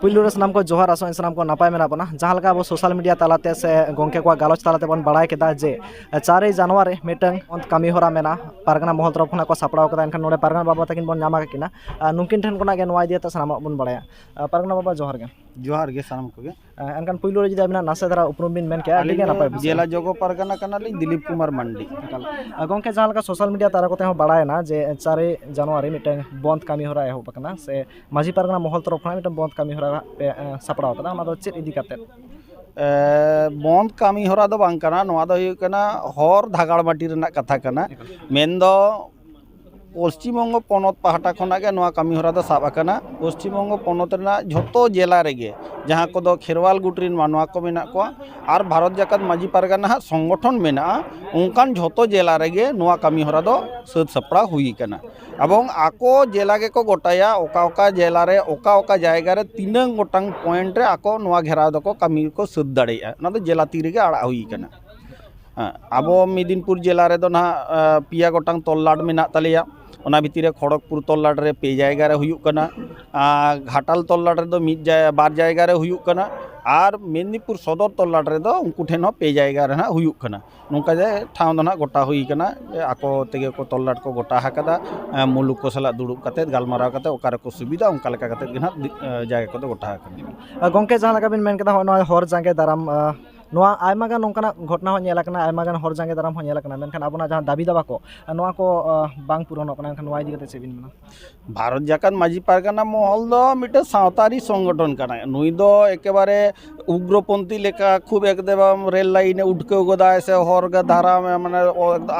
ᱯᱩᱭᱞᱩ ᱨᱮ ᱥᱟᱱᱟᱢ ᱠᱚ ᱡᱚᱦᱟᱨ ᱟᱥᱚᱜ ᱥᱟᱱᱟᱢ ᱠᱚ ᱱᱟᱯᱟᱭ ᱢᱮᱱᱟᱜ ᱵᱚᱱᱟ ᱡᱟᱦᱟᱸ ᱞᱮᱠᱟ ᱟᱵᱚ ᱥᱳᱥᱟᱞ ᱢᱤᱰᱤᱭᱟ ᱛᱟᱞᱟᱛᱮ ᱥᱮ ᱜᱚᱝᱠᱮ ᱠᱚᱣᱟᱜ ᱜᱟᱞᱚᱪ ᱛᱟᱞᱟᱛᱮ ᱵᱚᱱ ᱵᱟᱲᱟᱭ ᱠᱮᱫᱟ ᱡᱮ ᱪᱟᱨᱮ ᱡᱟᱱᱩᱣᱟᱨᱤ ᱢᱤᱫᱴᱟᱝ ᱠᱟᱹᱢᱤ ᱦᱚᱨᱟ ᱢᱮᱱᱟᱜᱼᱟ ᱯᱟᱨᱜᱟᱱᱟ ᱢᱚᱦᱚᱞ ᱛᱚᱨᱚᱯ ᱠᱷᱚᱱᱟᱜ ᱠᱚ ᱥᱟᱯᱲᱟᱣ ᱠᱟᱫᱟ ᱮᱱᱠᱷᱟᱱ ᱱᱚᱰᱮ ᱯᱟᱨᱜᱟᱱᱟ ᱵᱟᱵᱟ ᱛᱟᱹᱠᱤᱱ ᱵᱚᱱ ᱧᱟᱢ ᱟᱠᱟᱫ ᱠᱤᱱᱟ ᱱᱩᱠᱤᱱ ᱴᱷᱮᱱ ᱠᱷᱚᱱᱟᱜ ᱜᱮ ᱱᱚᱣᱟ ᱤᱫᱤ ᱠᱟᱛᱮ ᱥᱟᱱᱟᱢᱟᱜ ᱵᱚᱱ ᱵᱟᱲᱟᱭᱟ ᱯᱟᱨᱜᱟᱱᱟ ᱵᱟᱵᱟ ᱡᱚᱦᱟᱨ ᱜᱮ ᱡᱚᱦᱟᱨ ᱜᱮ ᱥᱟᱱᱟᱢ ᱠᱚᱜᱮ ᱮᱱᱠᱷᱟᱱ ᱯᱩᱭᱞᱩ ᱨᱮ ᱡᱩᱫᱤ ᱟᱵᱤᱱᱟᱜ ᱱᱟᱥᱮ ᱫᱷᱟᱨᱟ ᱩᱯᱨᱩᱢ ᱵᱤᱱ ᱢᱮᱱ ᱠᱮᱭᱟ ᱟᱹᱰᱤ ᱜᱮ ᱱᱟᱯᱟᱭ ᱡᱮᱞᱟ ᱡᱚᱜᱚ ᱯᱟᱨᱜᱟᱱᱟ ᱠᱟᱱᱟᱞᱤᱧ ᱫᱤᱞᱤᱯ ᱠᱩᱢᱟᱨ ᱢᱟᱱᱰᱤ ᱜᱚᱝᱠᱮ ᱡᱟᱦᱟᱸ ᱞᱮᱠᱟ ᱥᱳᱥᱟᱞ ᱢᱤᱰᱤᱭᱟ ᱛᱟᱞᱟ ᱠᱚᱛᱮ ᱦᱚᱸ ᱵᱟᱲᱟᱭᱮᱱᱟ ᱡᱮ ᱪᱟᱨᱮ ᱡᱟᱱᱩᱣᱟᱨᱤ ᱢᱤᱫᱴᱟᱝ ᱵᱚᱱᱫᱷ ᱠᱟᱹᱢᱤ ᱦᱚᱨᱟ ᱮᱦᱚᱵ ᱟᱠᱟᱱᱟ ᱥᱮ ᱢᱟᱺᱡᱷᱤ ᱯᱟᱨᱜᱟᱱᱟ ᱢᱚᱦᱚᱞ ᱛᱚᱨᱚᱯᱷ ᱠᱷᱚᱱᱟᱜ ᱢᱤᱫᱴᱟᱝ ᱵᱚᱸᱫᱽ ᱠᱟᱹᱢᱤ ᱦᱚᱨᱟ ᱯᱮ ᱥᱟᱯᱲᱟᱣ ᱠᱟᱫᱟ ᱚᱱᱟ ᱫᱚ ᱪᱮᱫ ᱤᱫᱤ ᱠᱟᱛᱮ ᱵᱚᱸᱫᱽ ᱠᱟᱹᱢᱤ ᱦᱚᱨᱟ ᱫᱚ ᱵᱟᱝ ᱠᱟᱱᱟ ᱱᱚᱣᱟ ᱫᱚ ᱦᱩᱭᱩᱜ ᱠᱟᱱᱟ ᱦᱚᱨ ᱫᱷᱟᱜᱟᱲ ᱢᱟᱹᱴᱤ ᱨᱮᱱᱟᱜ ᱠᱟᱛᱷᱟ ᱠᱟᱱᱟ ᱢᱮᱱ ᱫᱚ ᱯᱚᱥᱪᱤᱢ ᱵᱚᱝᱜᱚ ᱯᱚᱱᱚᱛ ᱯᱟᱦᱴᱟ ᱠᱷᱚᱱᱟᱜ ᱜᱮ ᱱᱚᱣᱟ ᱠᱟᱹᱢᱤ ᱦᱚᱨᱟ ᱫᱚ ᱥᱟᱵ ᱟᱠᱟᱱᱟ ᱯᱚᱥᱪᱤᱢ ᱵᱚᱝᱜᱚ ᱯᱚᱱᱚᱛ ᱨᱮᱱᱟᱜ ᱡᱷᱚᱛᱚ ᱡᱮᱞᱟ ᱨᱮᱜᱮ ᱡᱟᱦᱟᱸ ᱠᱚᱫᱚ ᱠᱷᱮᱨᱣᱟᱞ ᱜᱩᱴ ᱨᱮᱱ ᱢᱟᱱᱣᱟ ᱠᱚ ᱢᱮᱱᱟᱜ ᱠᱚᱣᱟ ᱟᱨ ᱵᱷᱟᱨᱚᱛ ᱡᱟᱠᱟᱛ ᱢᱟᱺᱡᱷᱤ ᱯᱟᱨᱜᱟᱱᱟ ᱦᱟᱸᱜ ᱥᱚᱝᱜᱚᱴᱷᱚᱱ ᱢᱮᱱᱟᱜᱼᱟ ᱚᱱᱠᱟᱱ ᱡᱷᱚᱛᱚ ᱡᱮᱞᱟ ᱨᱮᱜᱮ ᱱᱚᱣᱟ ᱠᱟᱹᱢᱤ ᱦᱚᱨᱟ ᱫᱚ ᱥᱟᱹᱛ ᱥᱟᱯᱲᱟᱣ ᱦᱩᱭ ᱠᱟᱱᱟ ᱮᱵᱚᱝ ᱟᱠᱚ ᱡᱮᱞᱟ ᱜᱮᱠᱚ ᱜᱚᱴᱟᱭᱟ ᱚᱠᱟ ᱚᱠᱟ ᱡᱮᱞᱟ ᱨᱮ ᱚᱠᱟ ᱚᱠᱟ ᱡᱟᱭᱜᱟ ᱨᱮ ᱛᱤᱱᱟᱹᱝ ᱜᱚᱴᱟᱝ ᱯᱚᱭᱮᱱᱴ ᱨᱮ ᱟᱠᱚ ᱱᱚᱣᱟ ᱜᱷᱮᱨᱟᱣ ᱫᱚᱠᱚ ᱠᱟᱹᱢᱤ ᱠᱚ ᱥᱟᱹᱛ ᱫᱟᱲᱮᱭᱟᱜᱼᱟ ᱚᱱᱟ ᱫᱚ ᱡᱮᱞᱟ ᱛᱤ ᱨᱮᱜᱮ ᱟᱲᱟᱜ ᱦᱩᱭ ᱠᱟᱱᱟ ᱟᱵᱚ ᱢᱮᱫᱤᱱᱯᱩᱨ ᱡᱮᱞᱟ ᱨᱮᱫᱚ ᱱᱟᱦᱟᱜ ᱯᱮᱭᱟ ᱜᱚᱴᱟᱝ ᱛᱚᱞᱞᱟᱴ ᱢᱮᱱᱟᱜ ᱛᱟᱞᱮᱭᱟ ᱚᱱᱟ ᱵᱷᱤᱛᱤᱨ ᱨᱮ ᱠᱷᱚᱲᱚᱜᱽᱯᱩᱨ ᱛᱚᱞᱞᱟᱴ ᱨᱮ ᱯᱮ ᱡᱟᱭᱜᱟ ᱨᱮ ᱦᱩᱭᱩᱜ ᱠᱟᱱᱟ ᱟᱨ ᱜᱷᱟᱴᱟᱞ ᱛᱚᱞᱞᱟᱴ ᱨᱮᱫᱚ ᱢᱤᱫ ᱡᱟᱭᱜᱟ ᱵᱟᱨ ᱡᱟᱭᱜᱟ ᱨᱮ ᱦᱩᱭᱩᱜ ᱠᱟᱱᱟ ᱟᱨ ᱢᱮᱫᱤᱱᱯᱩᱨ ᱥᱚᱫᱚᱨ ᱛᱚᱞᱞᱟᱴ ᱨᱮᱫᱚ ᱩᱱᱠᱩ ᱴᱷᱮᱱ ᱦᱚᱸ ᱯᱮ ᱡᱟᱭᱜᱟ ᱨᱮ ᱱᱟᱦᱟᱜ ᱦᱩᱭᱩᱜ ᱠᱟᱱᱟ ᱱᱚᱝᱠᱟ ᱜᱮ ᱴᱷᱟᱶ ᱫᱚ ᱱᱟᱦᱟᱜ ᱜᱚᱴᱟ ᱦᱩᱭ ᱠᱟᱱᱟ ᱡᱮ ᱟᱠᱚ ᱛᱮᱜᱮ ᱠᱚ ᱛᱚᱞᱞᱟᱴ ᱠᱚ ᱜᱚᱴᱟ ᱟᱠᱟᱫᱟ ᱢᱩᱞᱩᱠ ᱠᱚ ᱥᱟᱞᱟᱜ ᱫᱩᱲᱩᱵ ᱠᱟᱛᱮᱫ ᱜᱟᱞᱢᱟᱨᱟᱣ ᱠᱟᱛᱮᱫ ᱚᱠᱟ ᱨᱮᱠᱚ ᱥᱩᱵᱤᱫᱷᱟᱜᱼᱟ ᱚᱱᱠᱟ ᱞᱮᱠᱟ ᱠᱟᱛᱮᱫ ᱜᱮ ᱱᱟᱦᱟᱜ ᱡᱟᱭᱜᱟ ᱠᱚᱫᱚ ᱜᱚᱴᱟ ᱟᱠᱟᱱᱟ ᱜᱚᱢᱠᱮ ᱡᱟᱦᱟᱸ ᱞᱮᱠᱟ ᱵᱤᱱ ᱢᱮᱱ ᱠᱮᱫᱟ ᱦᱚᱸᱜᱼᱚᱭ ᱱᱚᱣᱟ ᱦᱚᱨ ᱡᱟᱸᱜᱮ ᱫᱟᱨᱟᱢ ᱱᱚᱣᱟ ᱟᱭᱢᱟ ᱜᱟᱱ ᱱᱚᱝᱠᱟᱱᱟᱜ ᱜᱷᱚᱴᱚᱱᱟ ᱦᱚᱸ ᱧᱮᱞ ᱠᱟᱱᱟ ᱟᱭᱢᱟ ᱜᱟᱱ ᱦᱚᱲ ᱡᱟᱸᱜᱮ ᱫᱟᱨᱟᱢ ᱦᱚᱸ ᱧᱮᱞ ᱠᱟᱱᱟ ᱢᱮᱱᱠᱷᱟᱱ ᱟᱵᱚᱱᱟᱜ ᱡᱟᱦᱟᱸ ᱫᱟᱹᱵᱤ ᱫᱟᱵᱟ ᱠᱚ ᱱᱚᱣᱟ ᱠᱚ ᱵᱟᱝ ᱯᱩᱨᱚᱱᱚᱜ ᱠᱟᱱᱟ ᱮᱱᱠᱷᱟᱱ ᱱᱚᱣᱟ ᱤᱫᱤ ᱠᱟᱛᱮᱫ ᱪᱮᱫ ᱵᱤᱱ ᱢᱮᱱᱟ ᱵᱷᱟᱨᱚᱛ ᱡᱟᱠᱟᱛ ᱢᱟᱹᱡᱷᱤ ᱯᱟᱨᱜᱟᱱᱟ ᱢᱚᱦᱚᱞ ᱫᱚ ᱢᱤᱫᱴᱮᱱ ᱥᱟᱶᱛᱟᱨᱤ ᱥᱚᱝᱜᱚᱴᱷᱚᱱ ᱠᱟᱱᱟᱭ ᱱᱩᱭ ᱫᱚ ᱮᱠᱮᱵᱟᱨᱮ ᱩᱜᱽᱨᱚ ᱯᱚᱱᱛᱷᱤ ᱞᱮᱠᱟ ᱠᱷᱩᱵ ᱮᱠᱫᱚᱢ ᱨᱮᱹᱞ ᱞᱟᱭᱤᱱᱮ ᱩᱴᱠᱟᱹᱣ ᱜᱚᱫᱟᱭ ᱥᱮ ᱦᱚᱨ ᱫᱷᱟᱨᱟ ᱢᱟᱱᱮ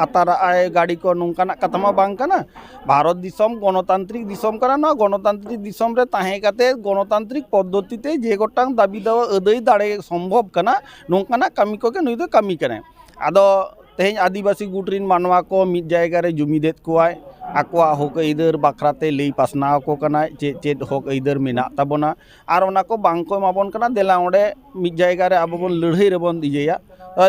ᱟᱛᱟᱨᱟᱜᱼᱟᱭ ᱜᱟᱹᱰᱤ ᱠᱚ ᱱᱚᱝᱠᱟᱱᱟᱜ ᱠᱟᱛᱷᱟ ᱢᱟ ᱵᱟᱝ ᱠᱟᱱᱟ ᱵᱷᱟᱨᱚᱛ ᱫᱤᱥᱚᱢ ᱜᱚᱱᱚᱛᱟᱱᱛᱨᱤᱠ ᱫᱤᱥᱚᱢ ᱠᱟᱱᱟ ᱱᱚᱣᱟ ᱜᱚᱱᱚᱛᱟᱱᱛᱨᱤᱠ ᱫᱤᱥᱚᱢ ᱨᱮ ᱛᱟᱦᱮᱸ ᱠᱟᱛᱮᱫ ᱜᱚᱱᱚᱛᱟᱱᱛᱨᱤᱠ ᱯᱚᱫᱽᱫᱷᱚᱛᱤ ᱛᱮ ᱡᱮ ᱜᱚᱴᱟᱝ ᱫᱟᱹᱵᱤ ᱫᱚ ᱟᱹᱫᱟᱹᱭ ᱫᱟᱲᱮ ᱥᱚᱢᱵᱷᱚᱵᱽ ᱠᱟᱱᱟ ᱱᱚᱝᱠᱟᱱᱟᱜ ᱠᱟᱹᱢᱤ ᱠᱚᱜᱮ ᱱᱩᱭ ᱫᱚᱭ ᱠᱟᱹᱢᱤ ᱠᱟᱱᱟᱭ ᱟᱫᱚ ᱛᱮᱦᱮᱧ ᱟᱹᱫᱤᱵᱟᱹᱥᱤ ᱜᱩᱴ ᱨᱤᱱ ᱢᱟᱱᱣᱟ ᱠᱚ ᱢᱤᱫ ᱡᱟᱭᱜᱟ ᱨᱮ ᱡᱩᱢᱤᱫᱮᱫ ᱠᱚᱣᱟᱭ ᱟᱠᱚᱣᱟᱜ ᱦᱚᱠ ᱟᱹᱭᱫᱟᱹᱨ ᱵᱟᱠᱷᱨᱟᱛᱮ ᱞᱟᱹᱭ ᱯᱟᱥᱱᱟᱣ ᱟᱠᱚ ᱠᱟᱱᱟᱭ ᱪᱮᱫ ᱪᱮᱫ ᱦᱚᱠ ᱟᱹᱭᱫᱟᱹᱨ ᱢᱮᱱᱟᱜ ᱛᱟᱵᱚᱱᱟ ᱟᱨ ᱚᱱᱟ ᱠᱚ ᱵᱟᱝ ᱠᱚ ᱮᱢᱟ ᱵᱚᱱ ᱠᱟᱱᱟ ᱫᱮᱞᱟ ᱚᱸᱰᱮ ᱢᱤᱫ ᱡᱟᱭᱜᱟ ᱨᱮ ᱟᱵᱚ ᱵᱚᱱ ᱞᱟᱹᱲᱦᱟᱹᱭ ᱨᱮᱵᱚᱱ ᱤᱭᱟᱹᱭᱟ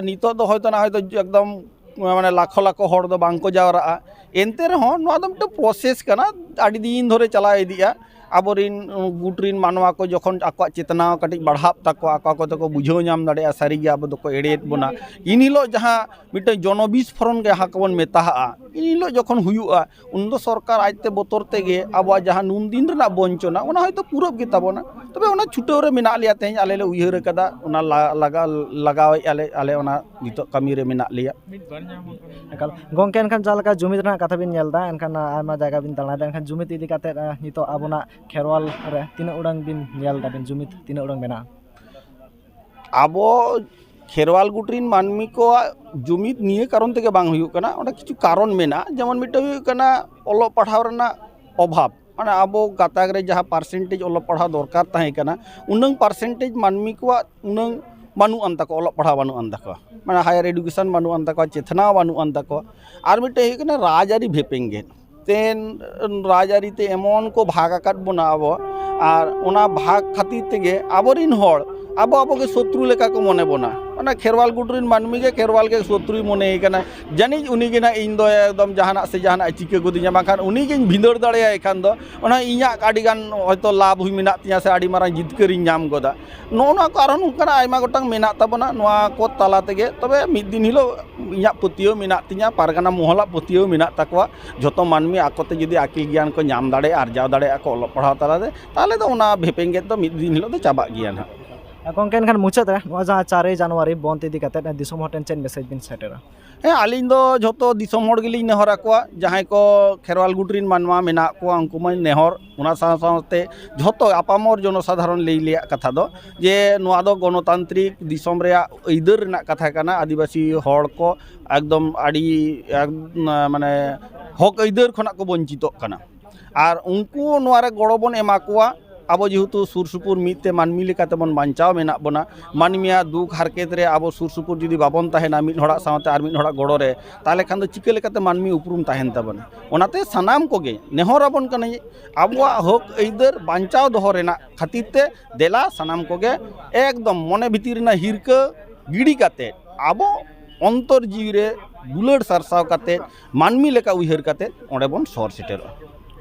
ᱱᱤᱛᱚᱜ ᱫᱚ ᱦᱚᱭᱛᱳ ᱱᱟᱦᱚᱭ ᱫᱚ ᱮᱠᱫᱚᱢ ᱢᱟᱱᱮ ᱞᱟᱠᱷᱚ ᱞᱟᱠᱷᱚ ᱦᱚᱲ ᱫᱚ ᱵᱟᱝ ᱠᱚ ᱡᱟᱣᱨᱟᱜᱼᱟ ᱮᱱᱛᱮ ᱨᱮᱦᱚᱸ ᱱᱚᱣᱟ ᱫᱚ ᱢᱤᱫᱴᱟᱝ ᱯᱨᱚᱥᱮᱥ ᱠᱟᱱᱟ ᱟᱹᱰᱤ ᱫᱤᱱ ᱫᱷᱚᱨᱮ ᱪᱟᱞᱟᱣ ᱤᱫᱤᱜᱼᱟ ᱟᱵᱚᱨᱤᱱ ᱜᱩᱴ ᱨᱤᱱ ᱢᱟᱱᱣᱟ ᱠᱚ ᱡᱚᱠᱷᱚᱱ ᱟᱠᱚᱣᱟᱜ ᱪᱮᱛᱱᱟ ᱠᱟᱹᱴᱤᱡ ᱵᱟᱲᱦᱟᱜ ᱛᱟᱠᱚᱣᱟ ᱟᱠᱚ ᱟᱠᱚ ᱛᱮᱠᱚ ᱵᱩᱡᱷᱟᱹᱣ ᱧᱟᱢ ᱫᱟᱲᱮᱭᱟᱜᱼᱟ ᱥᱟᱹᱨᱤᱜᱮ ᱟᱵᱚ ᱫᱚᱠᱚ ᱮᱲᱮᱭᱮᱫ ᱵᱚᱱᱟ ᱤᱱ ᱦᱤᱞᱳᱜ ᱡᱟᱦᱟᱸ ᱢᱤᱫᱴᱟᱹᱝ ᱡᱚᱱᱚ ᱵᱤᱥᱯᱷᱳᱨᱚᱱ ᱡᱟᱦᱟᱸ ᱠᱚᱵᱚᱱ ᱢᱮᱛᱟᱣᱟᱜᱼᱟ ᱤᱱ ᱦᱤᱞᱳᱜ ᱡᱚᱠᱷᱚᱱ ᱦᱩᱭᱩᱜᱼᱟ ᱩᱱ ᱫᱚ ᱥᱚᱨᱠᱟᱨ ᱟᱡ ᱛᱮ ᱵᱚᱛᱚᱨ ᱛᱮᱜᱮ ᱟᱵᱚᱣᱟᱜ ᱡᱟᱦᱟᱸ ᱱᱩᱱ ᱫᱤᱱ ᱨᱮᱱᱟᱜ ᱵᱚᱧᱪᱚᱱᱟ ᱚᱱᱟ ᱦᱚᱭᱛᱳ ᱯᱩᱨᱟᱹᱜ ᱜᱮᱛᱟ ᱵᱚᱱᱟ ᱛᱚᱵᱮ ᱚᱱᱟ ᱪᱷᱩᱴᱟᱹᱣ ᱨᱮ ᱢᱮᱱᱟᱜ ᱞᱮᱭᱟ ᱛᱮᱦᱮᱧ ᱟᱞᱮ ᱞᱮ ᱩᱭᱦᱟᱹᱨ ᱠᱟᱫᱟ ᱚᱱᱟ ᱞᱟᱜᱟᱣ ᱞᱟᱜᱟᱣᱮᱫᱼᱟ ᱞᱮ ᱟᱞᱮ ᱚᱱᱟ ᱱᱤᱛᱚᱜ ᱠᱟᱹᱢᱤ ᱨᱮ ᱢᱮᱱᱟᱜ ᱞᱮᱭᱟ ᱮᱠᱟᱞ ᱜᱚᱝᱠᱮ ᱮᱱᱠᱷᱟᱱ ᱡᱟᱦᱟᱸ ᱞᱮᱠᱟ ᱡᱩᱢᱤᱫ ᱨᱮᱱᱟᱜ ᱠᱟᱛᱷᱟ ᱵᱤᱱ ᱧᱮᱞ ᱮᱫᱟ ᱮᱱᱠᱷᱟᱱ ᱟᱭᱢᱟ ᱡᱟᱭᱜᱟ ᱵᱤᱱ ᱫᱟᱬᱟᱭᱮᱫᱟ ᱮᱱᱠᱷᱟᱱ ᱡᱩᱢᱤᱫ ᱤᱫᱤ ᱠᱟᱛᱮ ᱱᱤᱛᱚᱜ ᱟᱵᱚᱱᱟᱜ ᱠᱷᱮᱨᱣᱟᱞ ᱨᱮ ᱛᱤᱱᱟᱹᱜ ᱩᱰᱟᱹᱝ ᱵᱤᱱ ᱧᱮᱞ ᱮᱫᱟ ᱵᱤᱱ ᱡᱩᱢᱤᱫ ᱛᱤᱱᱟᱹᱜ ᱩᱰᱟᱹᱝ ᱢᱮᱱᱟᱜᱼᱟ ᱟᱵᱚ ᱠᱷᱮᱨᱣᱟᱞ ᱜᱩᱴ ᱨᱮᱱ ᱢᱟᱹᱱᱢᱤ ᱠᱚᱣᱟᱜ ᱡᱩᱢᱤᱫ ᱱᱤᱭᱟᱹ ᱠᱟᱨᱚᱱ ᱛᱮᱜᱮ ᱵᱟᱝ ᱦᱩᱭᱩᱜ ᱠᱟᱱᱟ ᱚᱸᱰᱮ ᱠᱤᱪᱷᱩ ᱠᱟᱨᱚᱱ ᱢᱮᱱᱟᱜᱼᱟ ᱡᱮᱢᱚᱱ ᱢᱤᱫᱴᱟᱹᱝ ᱦᱩᱭᱩᱜ ᱠᱟᱱᱟ ᱚᱞᱚᱜ ᱯᱟᱲᱦᱟᱣ ᱨᱮᱱᱟᱜ ᱚᱵᱷᱟᱵᱽ ᱢᱟᱱᱮ ᱟᱵᱚ ᱜᱟᱛᱟᱠ ᱨᱮ ᱡᱟᱦᱟᱸ ᱯᱟᱨᱥᱮᱱᱴᱮᱡᱽ ᱚᱞᱚᱜ ᱯᱟᱲᱦᱟᱣ ᱫᱚᱨᱠᱟᱨ ᱛᱟᱦᱮᱸ ᱠᱟᱱᱟ ᱩᱱᱟᱹᱝ ᱯᱟᱨᱥᱮᱱᱴᱮᱡᱽ ᱢᱟᱹᱱᱢᱤ ᱠᱚᱣᱟᱜ ᱩᱱᱟᱹᱝ ᱵᱟᱹᱱᱩᱜ ᱟᱱ ᱛᱟᱠᱚᱣᱟ ᱚᱞᱚᱜ ᱯᱟᱲᱦᱟᱣ ᱵᱟᱹᱱᱩᱜ ᱟᱱ ᱛᱟᱠᱚᱣᱟ ᱢᱟᱱᱮ ᱦᱟᱭᱟᱨ ᱮᱰᱩᱠᱮᱥᱚᱱ ᱵᱟᱹᱱᱩᱜ ᱟᱱ ᱛᱟᱠᱚᱣᱟ ᱪᱮᱛᱱᱟᱣ ᱵᱟᱹᱱᱩᱜ ᱟᱱ ᱛᱟᱠᱚᱣᱟ ᱟᱨ ᱢᱤᱫᱴᱮᱡ ᱦᱩᱭᱩᱜ ᱠᱟᱱᱟ ᱨᱟᱡᱽᱼᱟᱹᱨᱤ ᱵᱷᱮᱯᱮᱜᱮᱫ ᱛᱮᱱ ᱨᱟᱡᱽᱼᱟᱹᱨᱤ ᱛᱮ ᱮᱢᱚᱱ ᱠᱚ ᱵᱷᱟᱜᱽ ᱟᱠᱟᱫ ᱵᱚᱱᱟ ᱟᱵᱚ ᱟᱨ ᱚᱱᱟ ᱵᱷᱟᱜᱽ ᱠᱷᱟᱹᱛᱤᱨ ᱛᱮᱜᱮ ᱟᱵᱚ ᱨᱤᱱ ᱦᱚᱲ ᱟᱵᱚ ᱟᱵᱚ ᱜᱮ ᱥᱚᱛᱨᱩ ᱞᱮᱠᱟ ᱠᱚ ᱢᱚᱱᱮ ᱵᱚᱱᱟ ᱚᱱᱟ ᱠᱷᱮᱨᱣᱟᱞ ᱜᱩᱴ ᱨᱤᱱ ᱢᱟᱹᱱᱢᱤ ᱜᱮ ᱠᱷᱮᱨᱣᱟᱞ ᱜᱮ ᱥᱚᱛᱨᱩᱭ ᱢᱚᱱᱮᱭᱮ ᱠᱟᱱᱟ ᱡᱟᱹᱱᱤᱡ ᱩᱱᱤ ᱜᱮ ᱱᱟᱜ ᱤᱧ ᱫᱚ ᱮᱠᱫᱚᱢ ᱡᱟᱦᱟᱱᱟᱜ ᱥᱮ ᱡᱟᱦᱟᱱᱟᱜ ᱮ ᱪᱤᱠᱟᱹ ᱜᱚᱫᱤᱧᱟ ᱵᱟᱝᱠᱷᱟᱱ ᱩᱱᱤ ᱜᱤᱧ ᱵᱷᱤᱸᱫᱟᱹᱲ ᱫᱟᱲᱮᱭᱟᱭ ᱠᱷᱟᱱ ᱫᱚ ᱚᱱᱟ ᱤᱧᱟᱹᱜ ᱟᱹᱰᱤ ᱜᱟᱱ ᱦᱚᱭᱛᱳ ᱞᱟᱵᱽ ᱦᱚᱸ ᱢᱮᱱᱟᱜ ᱛᱤᱧᱟᱹ ᱥᱮ ᱟᱹᱰᱤ ᱢᱟᱨᱟᱝ ᱡᱤᱛᱠᱟᱹᱨᱤᱧ ᱧᱟᱢ ᱜᱚᱫᱟ ᱱᱚᱜᱼᱚ ᱱᱚᱣᱟ ᱠᱚ ᱟᱨᱚ ᱱᱚᱝᱠᱟᱱᱟᱜ ᱟᱭᱢᱟ ᱜᱚᱴᱟᱝ ᱢᱮᱱᱟᱜ ᱛᱟᱵᱚᱱᱟ ᱱᱚᱣᱟ ᱠᱚ ᱛᱟᱞᱟ ᱛᱮᱜᱮ ᱛᱚᱵᱮ ᱢᱤᱫ ᱫᱤᱱ ᱦᱤᱞᱳᱜ ᱤᱧᱟᱹᱜ ᱯᱟᱹᱛᱭᱟᱹᱣ ᱢᱮᱱᱟᱜ ᱛᱤᱧᱟᱹ ᱯᱟᱨᱜᱟᱱᱟ ᱢᱚᱦᱚᱞᱟᱜ ᱯᱟᱹᱛᱭᱟᱹᱣ ᱢᱮᱱᱟᱜ ᱛᱟᱠᱚᱣᱟ ᱡᱷᱚᱛᱚ ᱢᱟᱹᱱᱢᱤ ᱟᱠᱚ ᱛᱮ ᱡᱩᱫᱤ ᱟᱹᱠᱤᱞ ᱜᱮᱭᱟᱱ ᱠᱚ ᱧᱟᱢ ᱫᱟᱲᱮᱭᱟᱜᱼᱟ ᱟᱨᱡᱟᱣ ᱫᱟᱲᱮᱭᱟᱜᱼᱟ ᱠᱚ ᱚᱞᱚᱜ ᱯᱟᱲᱦᱟᱣ ᱛᱟᱞᱟ ᱛᱮ ᱛᱟᱦᱚᱞᱮ ᱫᱚ ᱚᱱᱟ ᱵᱷᱮᱯᱮᱜᱮᱫ ᱫᱚ ᱢᱤᱫ ᱫᱤᱱ ᱦᱤᱞᱳᱜ ᱫᱚ ᱪᱟᱵᱟᱜ ᱜᱮᱭᱟ ᱱᱟᱜ ᱜᱚᱢᱠᱮ ᱮᱱᱠᱷᱟᱱ ᱢᱩᱪᱟᱹᱫ ᱨᱮ ᱱᱚᱣᱟ ᱡᱟᱦᱟᱸ ᱪᱟᱨᱮ ᱡᱟᱱᱩᱣᱟᱨᱤ ᱵᱚᱱᱫᱷ ᱤᱫᱤ ᱠᱟᱛᱮᱫ ᱫᱤᱥᱚᱢ ᱦᱚᱲ ᱴᱷᱮᱱ ᱪᱮᱫ ᱢᱮᱥᱮᱡᱽ ᱵᱤᱱ ᱥᱮᱴᱮᱨᱟ ᱦᱮᱸ ᱟᱹᱞᱤᱧ ᱫᱚ ᱡᱷᱚᱛᱚ ᱫᱤᱥᱚᱢ ᱦᱚᱲ ᱜᱮᱞᱤᱧ ᱱᱮᱦᱚᱨ ᱟᱠᱚᱣᱟ ᱡᱟᱦᱟᱸᱭ ᱠᱚ ᱠᱷᱮᱨᱣᱟᱞ ᱜᱩᱴ ᱨᱮᱱ ᱢᱟᱱᱣᱟ ᱢᱮᱱᱟᱜ ᱠᱚᱣᱟ ᱩᱱᱠᱩ ᱢᱟᱹᱧ ᱱᱮᱦᱚᱨ ᱚᱱᱟ ᱥᱟᱶ ᱥᱟᱶᱛᱮ ᱡᱷᱚᱛᱚ ᱟᱯᱟᱢᱚᱨ ᱡᱚᱱᱚ ᱥᱟᱫᱷᱟᱨᱚᱱ ᱞᱟᱹᱭ ᱨᱮᱭᱟᱜ ᱠᱟᱛᱷᱟ ᱫᱚ ᱡᱮ ᱱᱚᱣᱟ ᱫᱚ ᱜᱚᱱᱚᱛᱟᱱᱛᱨᱤᱠ ᱫᱤᱥᱚᱢ ᱨᱮᱭᱟᱜ ᱟᱹᱭᱫᱟᱹᱨ ᱨᱮᱱᱟᱜ ᱠᱟᱛᱷᱟ ᱠᱟᱱᱟ ᱟᱹᱫᱤᱵᱟᱹᱥᱤ ᱦᱚᱲ ᱠᱚ ᱮᱠᱫᱚᱢ ᱟᱹᱰᱤ ᱢᱟᱱᱮ ᱦᱚᱸᱠ ᱟᱹᱭᱫᱟᱹᱨ ᱠᱷᱚᱱᱟᱜ ᱠᱚ ᱵᱚᱧᱪᱤᱛᱚᱜ ᱠᱟᱱᱟ ᱟᱨ ᱩᱱᱠᱩ ᱦᱚᱸ ᱱᱚᱣᱟ ᱨᱮ ᱜᱚᱲᱚ ᱵᱚᱱ ᱮᱢᱟ ᱠᱚᱣᱟ ᱟᱵᱚ ᱡᱮᱦᱮᱛᱩ ᱥᱩᱨ ᱥᱩᱯᱩᱨ ᱢᱤᱫ ᱛᱮ ᱢᱟᱹᱱᱢᱤ ᱞᱮᱠᱟ ᱛᱮᱵᱚᱱ ᱵᱟᱧᱪᱟᱣ ᱢᱮᱱᱟᱜ ᱵᱚᱱᱟ ᱢᱟᱹᱱᱢᱤᱭᱟᱜ ᱫᱩᱠ ᱦᱟᱨᱠᱮᱛ ᱨᱮ ᱟᱵᱚ ᱥᱩᱨ ᱥᱩᱯᱩᱨ ᱡᱩᱫᱤ ᱵᱟᱵᱚᱱ ᱛᱟᱦᱮᱱᱟ ᱢᱤᱫ ᱦᱚᱲᱟᱜ ᱥᱟᱶᱛᱮ ᱟᱨ ᱢᱤᱫ ᱦᱚᱲᱟᱜ ᱜᱚᱲᱚ ᱨᱮ ᱛᱟᱦᱚᱞᱮ ᱠᱷᱟᱱ ᱫᱚ ᱪᱤᱠᱟᱹ ᱞᱮᱠᱟᱛᱮ ᱢᱟᱹᱱᱢᱤ ᱩᱯᱨᱩᱢ ᱛᱟᱦᱮᱱ ᱛᱟᱵᱚᱱᱟ ᱚᱱᱟᱛᱮ ᱥᱟᱱᱟᱢ ᱠᱚᱜᱮ ᱱᱮᱦᱚᱨ ᱟᱵᱚᱱ ᱠᱟᱹᱱᱟᱹᱧ ᱟᱵᱚᱣᱟᱜ ᱦᱚᱸᱠ ᱟᱹᱭᱫᱟᱹᱨ ᱵᱟᱧᱪᱟᱣ ᱫᱚᱦᱚ ᱨᱮᱱᱟᱜ ᱠᱷᱟᱹᱛᱤᱨ ᱛᱮ ᱫᱮᱞᱟ ᱥᱟᱱᱟᱢ ᱠᱚᱜᱮ ᱮᱠᱫᱚᱢ ᱢᱚᱱᱮ ᱵᱷᱤᱛᱤᱨ ᱨᱮᱱᱟᱜ ᱦᱤᱨᱠᱟᱹ ᱜᱤᱰᱤ ᱠᱟᱛᱮᱫ ᱟᱵᱚ ᱚᱱᱛᱚᱨ ᱡᱤᱣᱤ ᱨᱮ ᱫᱩᱞᱟᱹᱲ ᱥᱟᱨᱥᱟᱣ ᱠᱟᱛᱮᱫ ᱢᱟᱹᱱᱢᱤ ᱞᱮᱠᱟ ᱩᱭᱦᱟᱹᱨ ᱠᱟᱛᱮᱫ ᱚᱸᱰᱮ ᱵᱚᱱ ᱥᱚᱦᱚᱨ ᱥᱮᱴᱮᱨᱚᱜᱼᱟ